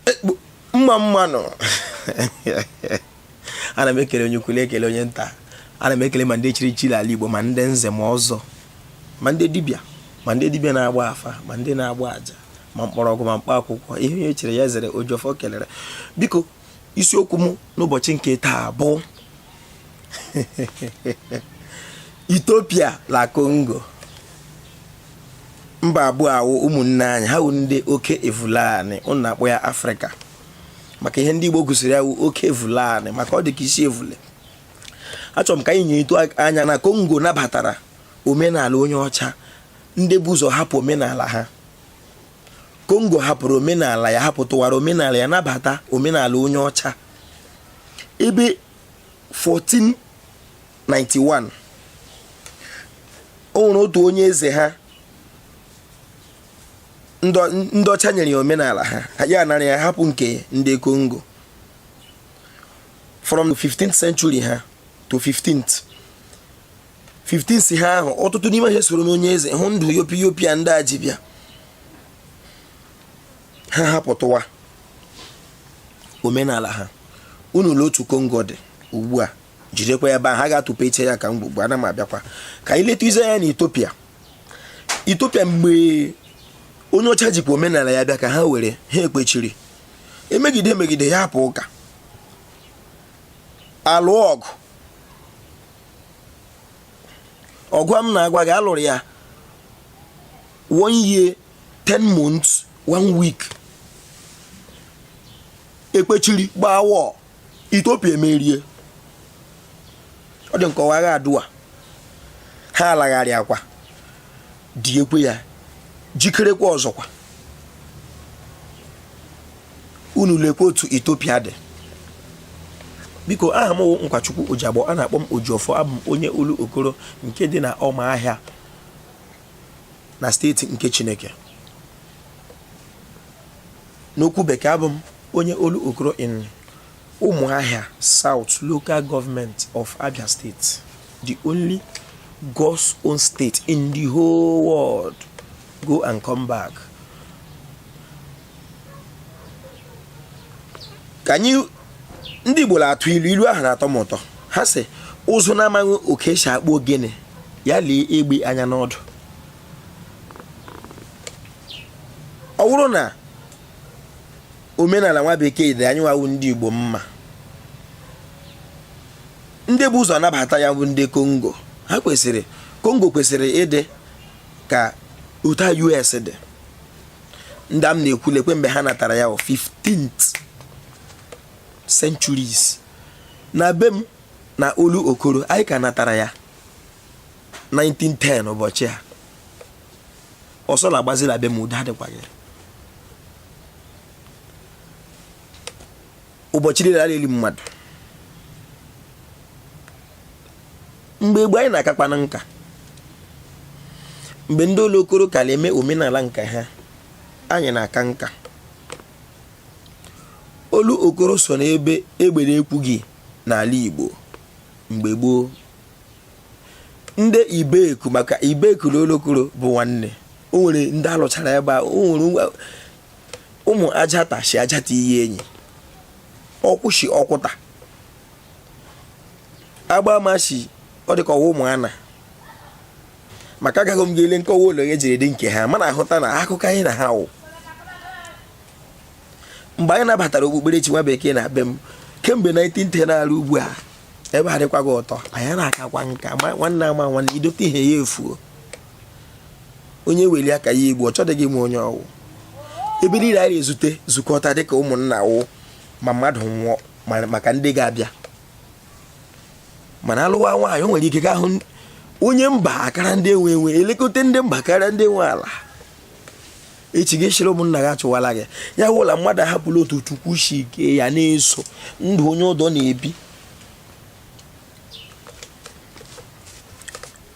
Ekpu- mma mma nụ ana m ekele onye ukwu na-ekele onye nta ana m ekele ma ndị e chiri echi l'ala igbo ma ndị nze ma ọzọ ma ndị dibịa ma ndị dibịa na-agba afa ma ndị na-agba aja ma mkpọrọgwụ ma mkpa akwụkwọ ihe onye chiri ya zere ojiọfọ kelere biko isiokwu m n'ụbọchị nke taa bụ Ethiopia la Congo mba abụọ a wụ ụmụnne anyị ha wụ ndị oke evule ani unu na-akpọ ya afrịka maka ihe ndị igbo gụsiri ya wụ oke evule ani maka ọ dị ka isi evule achọrọ m ka anyị nyetu anya na kongo nabatara omenala onye ọcha ndị bu ụzọ hapụ omenala ha kongo hapụrụ omenala ya hapụtụwara omenala ya nabata omenala onye ọcha ebe 14 91 o nwere otu onye eze ha ndị ọcha nyere ya omenala ha ya anara ya hapụ nke ndị Kongo from 15th century ha to 15th 15 si ha ahụ ọtụtụ n'ime ha soro n'onye eze hụ ndụ yopi yopi a ndị a ji bịa ha hapụtụwa omenala ha unu lee otu kongo dị ugbu a jidekwa ya ebe ahụ a ga-atụpe iche ya ka m gbugbu ana m abịakwa ka anyị letụzie anya na Ethiopia Ethiopia mgbe onye ọcha jikwa omenala ya bịa ka ha were ha ekpechiri emegide emegide ya apụ ụka a lụọ ọgụ ọgụ a m na-agwa gị a lụrụ ya one year ten months one week ekpechiri gbaa wọọ Ethiopia emerie ọ dị nkọwa agha Adwa ha alagharịa kwadiekwe ya jikerekwa ọzọkwa unu lekwa otu Ethiopia dị biko aha m wụ nkwachukwu ojiagbọ a na-akpọ m ojiọfọ abụ m onye Olokoro nke dị na ọma ahịa na steeti nke Chineke. N'okwu bekee abụ m onye Olokoro in Umuahia South Local Government of Abia State, the only God's own state in the whole world. Go and come back. Ka anyị ndị Igbo na-atụ ilu ilu ahụ na-atọ m ụtọ ha sị ụzụ na-amaghị otu esi akpụ ogene ya lee egbe anya n'ọdụ ọ bụrụ na omenala nwa bekee dị anyị nwa wụ ndị Igbo mma ndị bu ụzọ nabata ya wụ ndị Kongo ha kwesịrị Kongo kwesịrị ịdị ka otu US dị ndị a m na-ekwu lekwe mgbe ha natara ya 15th centuries na be m na olokoro anyị ka natara ya 1910 ụbọchị a ọsọ na-agbazi la be m udo adịkwaghị ụbọchị niile a na-eli mmadụ mgbe gboo anyị na-akakwanụ nka mgbe ndị olokoro ka na-eme omenala nke ha anyị na-aka nka olokoro so n'ebe egbe na-ekwughị n'ala Igbo mgbe gboo ndị ibeku maka ibeku na olokoro bụ nwanne o nwere ndị a lụchara ebe a o nwere ụmụajata si ajata iyienyi ọkwụ si ọkwụta agbama si ọ dịka ọ wụ ụmụana maka agaghị m ga-ele nkọwa ụlọ ya jiri dị nke ha mana a hụta na akụkọ anyị na ha wụ mgbe anyị nabatara okpukperechi nwa bekee na be m kemgbe 1910 na-eru ugbu a ebe a adịkwaghị ụtọ anyị na-akakwa nka nwanne ama nwanne i dote ihe ya efuo onye weli aka ya egbuo ọ chọdịghị ịma onye ọ wụ ebe niile anyị na-ezute zukọta dịka ụmụnna wụ ma mmadụ nwụọ maka ndị ga-abịa mana a lụwa nwaanyị o nwere ike gaa hụ onye mba akara ndị enwe enwe elekọta ndị mba karịa ndị nwe ala echi gị chịrị ụmụnna gị achụwala gị ya wụ la mmadụ ahapụla otu chukwu si kee ya na-eso ndụ onye ọdọ na-ebi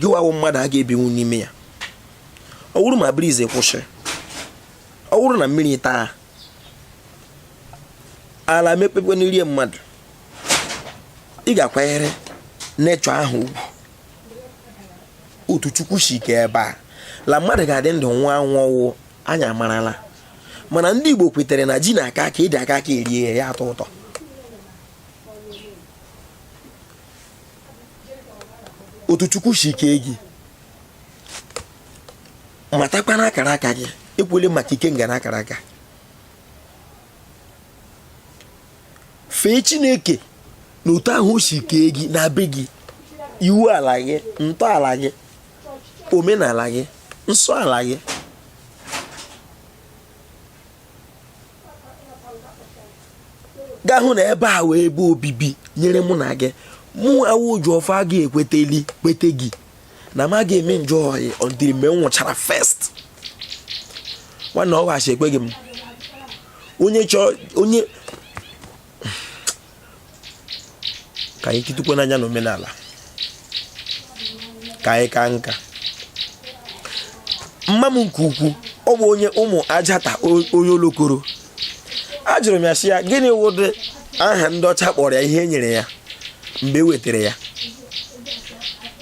gị nwa wụ mmadụ a ga-ebinwu n'ime ya ọ wụrụ ma breeze kwụsị ọ wụrụ na mmiri taa ala mepekwanụ rie mmadụ ị ga-akwanyere nature ahụ ugwu otu chukwu si kee ebe a la mmadụ ga-adị ndụ nwụọ anwụ ọ wụ anyị amarala mana ndị igbo kwetere na ji na-aka aka ede aka aka e rie ya atọ ụtọ otu chukwu si kee gị matakwa na akara aka gị ekwule maka ikenga na akara aka fee chineke na otu ahụ o si kee gị na be gị iwu ala gị ntọala gị omenala gị nsọ ala gị ga hụ na ebe a wụ ebe obibi e nyere mụ na gị mụ awụ oji ọfọ a ga-ekweteli kwete gị na m ga-eme njọ ọyị until mgbe m nwụchara first nwanne ọ ghachi ekweghị m onye chọọ onye ka anyị kitukwe n'anya na omenala ka anyị ka nka mma m nke ukwu ọ bụ onye ụmụajata onye olokoro ajụrụ m ya sị ya gịnị wụdị aha ndị ọcha kpọrọ ya ihe e nyere ya mgbe e wetara ya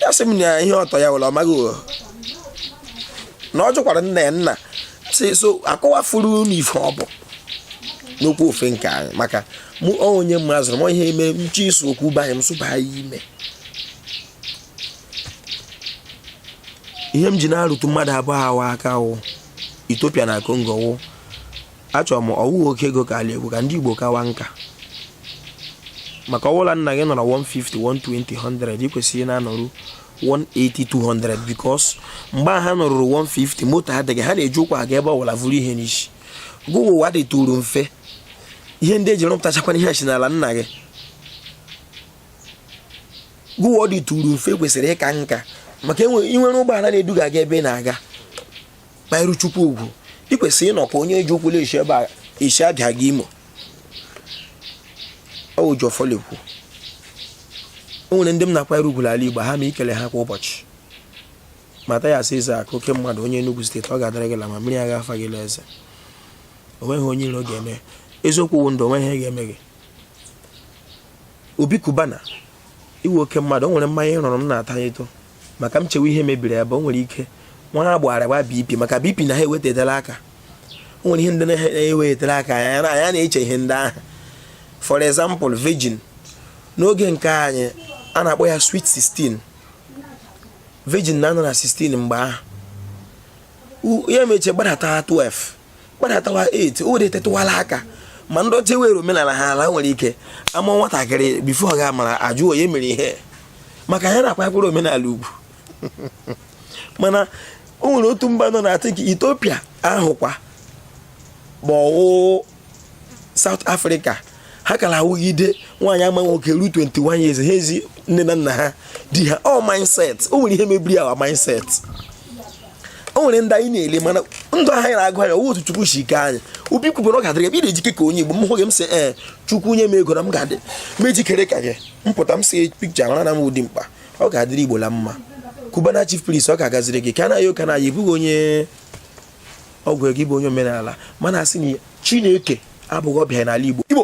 ya sị m na ihe ọtọ ya wụrụ ọ maghị na ọ jụkwara nna ya nna sị so akọwafuru unu ife ọ bụ n'okwu ofe nke anyị maka mụ onye m azụrụ m ihe eme nche iso okwu banye m sụba ya ime ihe m ji na-arụtụ mmadụ abụọ awa aka wụ Ethiopia na Congo wụ achọrọ m ọ wụghị oke ego ka ala egwu ka ndị Igbo kawa nka maka ọ wụ la nna gị nọrọ 150 120 100 ị kwesịrị na-anọru 180 200 because mgbe a ha nọruru 150 moto adịghị ha na-eji ụkwụ aga ebe ọwụla vuru ihe n'isi ugbua ụwa dịtụrụ mfe ihe ndị e ji rụpụtachakwana ihe si n'ala nna gị ugbua ọ dịtụrụ mfe ị kwesịrị ịka nka maka i nwere ụgbọala na-eduga gị ebe ị na-aga kwanyere chukwu ugwu ị kwesịrị ịnọka onye ji ụkwụ na-esi ebe a esi abia aga imo ọ wụ jọfọlikwu o nwere ndị m na-akwanyere ugwu ala igbo ha ma ikele ha kwa ụbọchị Mathias Ezeaku oke mmadụ onye Enugu steeti ọ ga-adịrị gị la mma mmiri agaghị afa gị eze o nweghị onye iro ga-eme eziokwu wụ ndụ o nweghị ihe ga-eme gị Obi Cubana ị wụ oke mmadụ o nwere mmanya ị rụrụ m na-ata eto maka m chewe ihe mebiri ebe o nwere ike nwa ha gbara gba BP maka BP na ha ewedatala aka o nwere ihe ndị na-ewetara aka ya na ya na-eche ihe ndị ahụ for example virgin n'oge nke anyị a na-akpọ ya sweet 16 virgin na-anọ na 16 mgbe ahụ ya meche gbadatawa 12 gbadatawa 8 o wedatụwala aka ma ndị ọcha nwere omenala ha ala nwere ike ama nwatakịrị before ọ ga-amara a jụọ onye mere ihe maka ya na-akwakwara omenala ugwu mana o nwere otu mba nọ na I think Ethiopia ahụkwa ma ọ wụ South Africa ha ka la-awụgide nwaanyị amaghị nwoke ruo 21 years ha ezi nne na nna ha di ha ọ mindset o nwere ihe mebiri our mindset o nwere ndị anyị na-ele mana ndụ ahụ anyị na-agụ anya otu chukwu si kee anyị obi kwubere ọ ga-adịrị ebe ị na-ejike ka onye igbo m hụ gị m sị ee eh, chukwu nye m ego na m ga-adị m ejikere ka gị m pụta m see picture mara na mụ dị mkpa ọ ga-adịrị igbo la mma Cubana chief priest ọ ga-agaziri gị Kanayo O Kanayo ị bụghị onye ọgwụ ego ị bụ onye omenala mana a sị na chineke abụghị ọbịa n'ala igbo igbo